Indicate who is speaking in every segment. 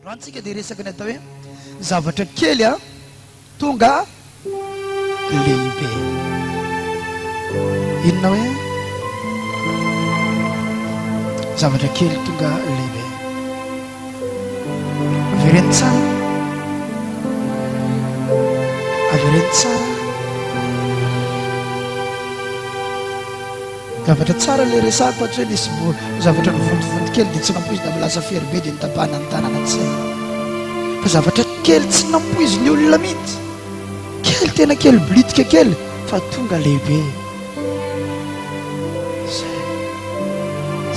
Speaker 1: Androany tsika dia resaka ny atao hoe zavatra kely a tonga lehibe. Inona hoe zavatra kely tonga lehibe? Avereno tsara. Avereno tsara. Zavatra tsara ilay resahako fa hatreto nisy mbo zavatra nivontovonto kely dia tsy nampoizina fa lasa fery be dia nitapahana ny tanana ny saina fa zavatra kely tsy nampoizin'ny olona mihitsy kely tena kely blitika kely fa tonga lehibe zay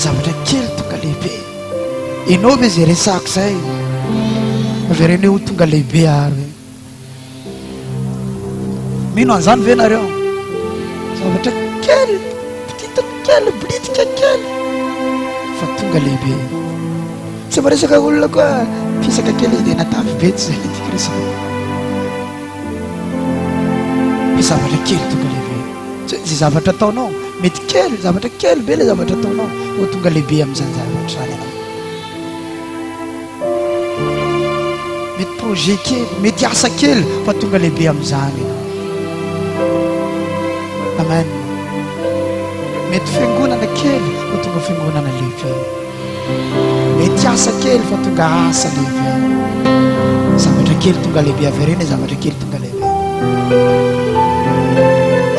Speaker 1: zavatra kely tonga lehibe ianao ve zay resahako zay avy ireny ho tonga lehibe ary Mino an'izany ve nareo? Zavatra kely, petite kely, blitika kely, fa tonga lehibe. Tsy maresaka olona koa fisaka kely dia natavy be tsy zay Kristy. Ny zavatra kely tonga lehibe. Tsy hoe zavatra ataonao, mety kely, zavatra kely be le zavatra ataonao, ho tonga lehibe amin'izany zavatra zany ianao. Mety projet kely, mety asa kely fa tonga lehibe amin'izany ianao. Amen. Mety fiangonana kely fa tonga fiangonana lehibe. Mety asa kely fa tonga asa lehibe. Zavatra kely tonga lehibe averena, zavatra kely tonga lehibe.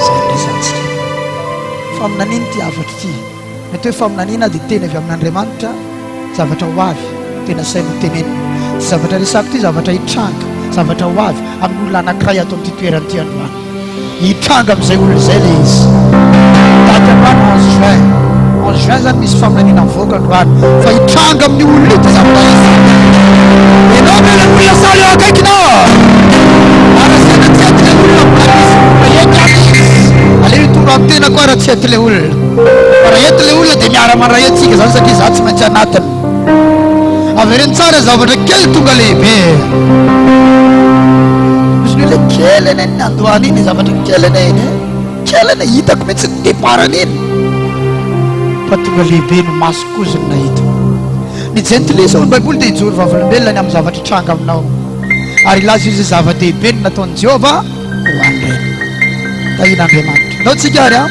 Speaker 1: Izany resantsika. Fa amin'an'iny ity hafatra ity. Mety hoe faminaniana dia teny avy amin'Andriamanitra, zavatra ho avy, tena saina ho tenenina. Ity zavatra resako ity zavatra hitranga, zavatra ho avy amin'ny olona anankiray ato amin'ity toerana ity androany. Hitranga amin'izay olona izay ilay izy. Daty androany onze juin. Onze juin izany misy faminaniana mivoaka androany fa hitranga amin'ny olona ity zavatra izy. Ianao ve ilay olona sahala eo akaikinao? Arasena tsy hety ilay olona amin'izany izy, fa hety ato izy. Aleo hitondra amin'ny tenako aho raha tsy hety ilay olona. Fa raha eto ilay olona dia miara mandray antsika izany satria izaho tsy maintsy anatiny. Avereno tsara zavatra kely tonga lehibe. Izy ilay kely anie ny nandoany iny zavatra kely anie iny. Kely anie hitako mihitsy ny deparany iny. Fa tonga lehibe ny maso kozy ny nahita. Ny jentilisa ao amin'ny Baiboly dia hijoro vavolombelona ny amin'ny zavatra hitranga aminao. Ary hilaza izay zava-dehibe ny nataon'i Jehovah ho an'ireny. Tahian'Andriamanitra. Ndao tsika ary an.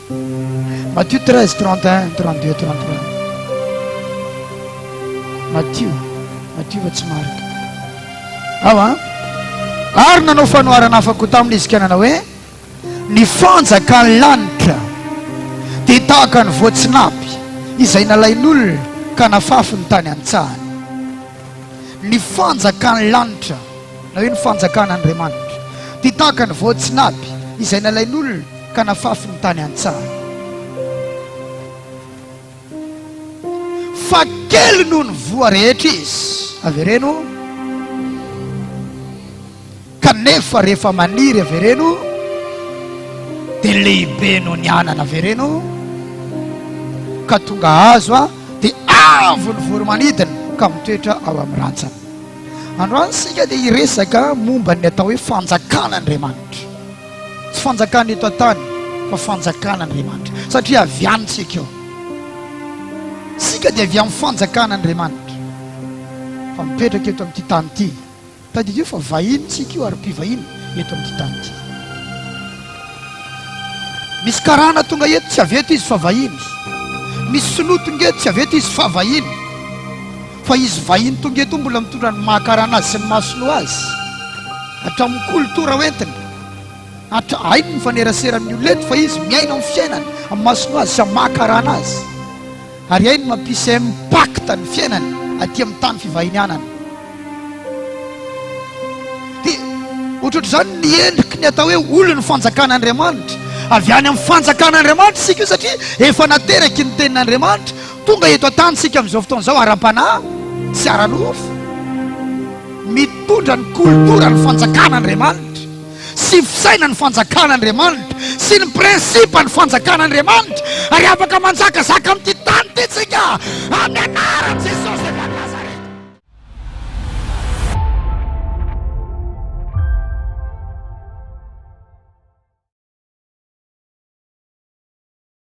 Speaker 1: Matthieu 13, 31, 32, 33. Matthieu, Matthieu fa tsy Marc. Ao an. Ary nanao fanoharana hafa koa tamin'ny izikanana hoe ny fanjakan'ny lanitra dia tahaka ny voatsinapy izay nalain'olona ka nafafy ny tany an-tsahany. Ny fanjakan'ny lanitra na hoe ny fanjakan'Andriamanitra dia tahaka ny voatsinapy izay nalain'olona Ka nafafy ny tany an-tsaha. Fa kely noho ny voa rehetra izy. Avereno. Kanefa rehefa maniry avereno, dia lehibe noho ny anana. Avereno. Ka tonga azo aho dia avo ny voromanidina ka mitoetra ao amin'ny rantsana. Androany isika dia hiresaka momba ny atao hoe fanjakan'Andriamanitra. Tsy fanjakana eto an-tany fa fanjakan'Andriamanitra satria avy any isika eo. Isika dia avy amin'ny fanjakan'Andriamanitra fa mipetraka eto amin'ity tany ity. Tadidio fa vahiny isika io ary mpivahiny eto amin'ity tany ity. Misy karana tonga eto tsy avy eto izy fa vahiny. Misy sinoa tonga eto tsy avy eto izy fa vahiny. Fa izy vahiny tonga eto mbola mitondra ny maha karana azy sy ny maha sinoa azy hatramin'ny koltora ho entiny. Hatra hainy ny mifanerasera amin'ny olona eto fa izy miaina amin'ny fiainany amin'ny maha sinoa azy sy amin'ny maha karana azy. Ary hainy ny mampisy impact ny fiainany aty amin'ny tany fivahinianany. Dia ohatrohatr'izany ny endriky ny atao hoe olon'ny fanjakan'Andriamanitra. Avy any amin'ny fanjakan'Andriamanitra isika io satria efa nateraky ny tenin'Andriamanitra Tonga eto an-tany isika amin'izao fotoana izao ara-panahy sy ara-nofo, mitondra ny koltoran'ny fanjakan'Andriamanitra sy fisainan'ny fanjakan'Andriamanitra sy ny prinsipan'ny fanjakan'Andriamanitra, ary afaka manjakazaka amin'ity tany ity isika amin'ny anaran'i Jesosy avy any Nazareta.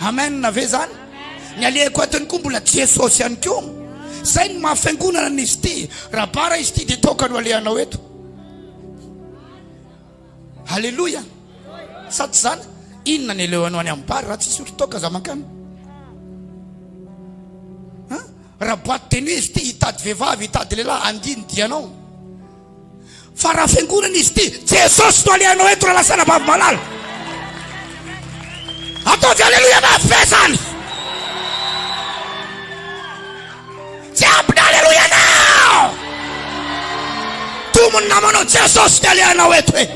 Speaker 1: Amen ve zany? Ny alehako atiny koa mbola Jesosy ihany koa. Zay ny maha fiangonana ny izy ity. Raha bara izy ity dia toaka no alehanao eto. Alléluia. Sa tsy zany? Inona ny alehanao any amin'ny bara raha tsy hisotro toaka za mankany? Raha boîte de nuit izy ity hitady vehivavy, hitady lehilahy, andiany dianao. Fa raha fiangonana izy ity, Jesosy no alehanao eto raha lasa anabavy malala. Ataovy aleloia mafy zany. Tsy ampy na aleloia nao. Tomony namanao Jesosy no alehanao eto e.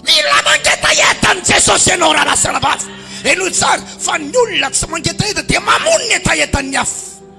Speaker 1: Mila mangetaheta ny Jesosy ianao raha lasa anabavy. Enoy tsara fa ny olona tsy mangetaheta dia mamono ny hetahetan'ny hafa.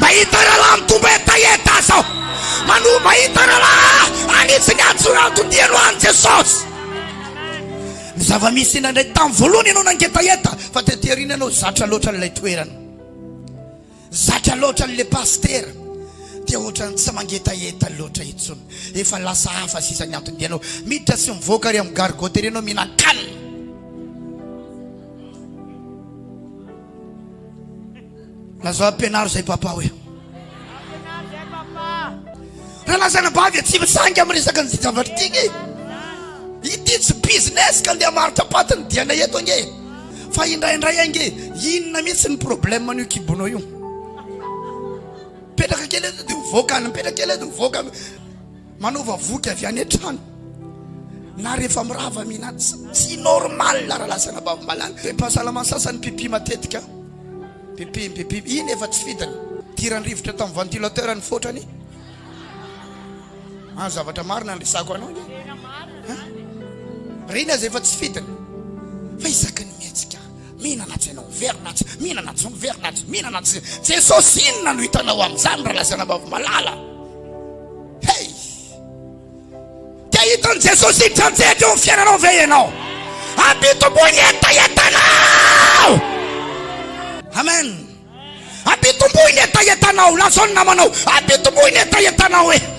Speaker 1: Mahita rahalahy mitombo hetaheta zao Mano mahita rahalahy hanitsy ny antso antony dieno any Jesosy Ny zava-misy indraindray tamin'ny voalohany ianao nangetaheta fa tety aoriana ianao zatra loatra an'ilay toerana Zatra loatra an'ilay pasitera dia ohatran'ny tsy mangetaheta loatra intsony efa lasa hafa sisa ny antony dieno miditra sy mivoaka ary amin'ny gargoterie ianao mihinan-kanina Lazao ampianaro zay papa hoe. Ampianaro zay papa. Raha lazana ba dia tsy misangy amin'ny resaka ny zavatra ity nge. Ity tsy business ka ndeha marotra paty ny diana eto ange. Fa indraindray ange inona mihitsy ny problème an'io kibonao io. Petraka kely eto dia ho voaka any, petraka kely eto ho voaka. Manaova voky avy any an-trano na rehefa mirava mihinana. Tsy normal raha lazaina babombalana. Be mpahasalama sasany mpipi matetika. Mpipi, mpipi. Iny efa tsy fidiny. Idiran'ny rivotra tamin'ny ventilateur ny fotrany. Ah, zavatra marina ny resako anao anie. Tena marina izany e. Reny aza efa tsy fidiny. Fa isaky ny mihetsika. Mihinana atsy ianao, miverina atsy, mihinana atsy, miverina atsy, mihinana atsy. Jesosy inona no hitanao amin'izany raha lazaina ambavy malala? Hey! Dia hitan'i Jesosy hitranjehaka eo amin'ny fiainanao ve ianao? Ampitomboy ny hetahetanao! Amen! Ampitomboy ny hetahetanao, lazao ny namanao, ampitomboy ny hetahetanao e!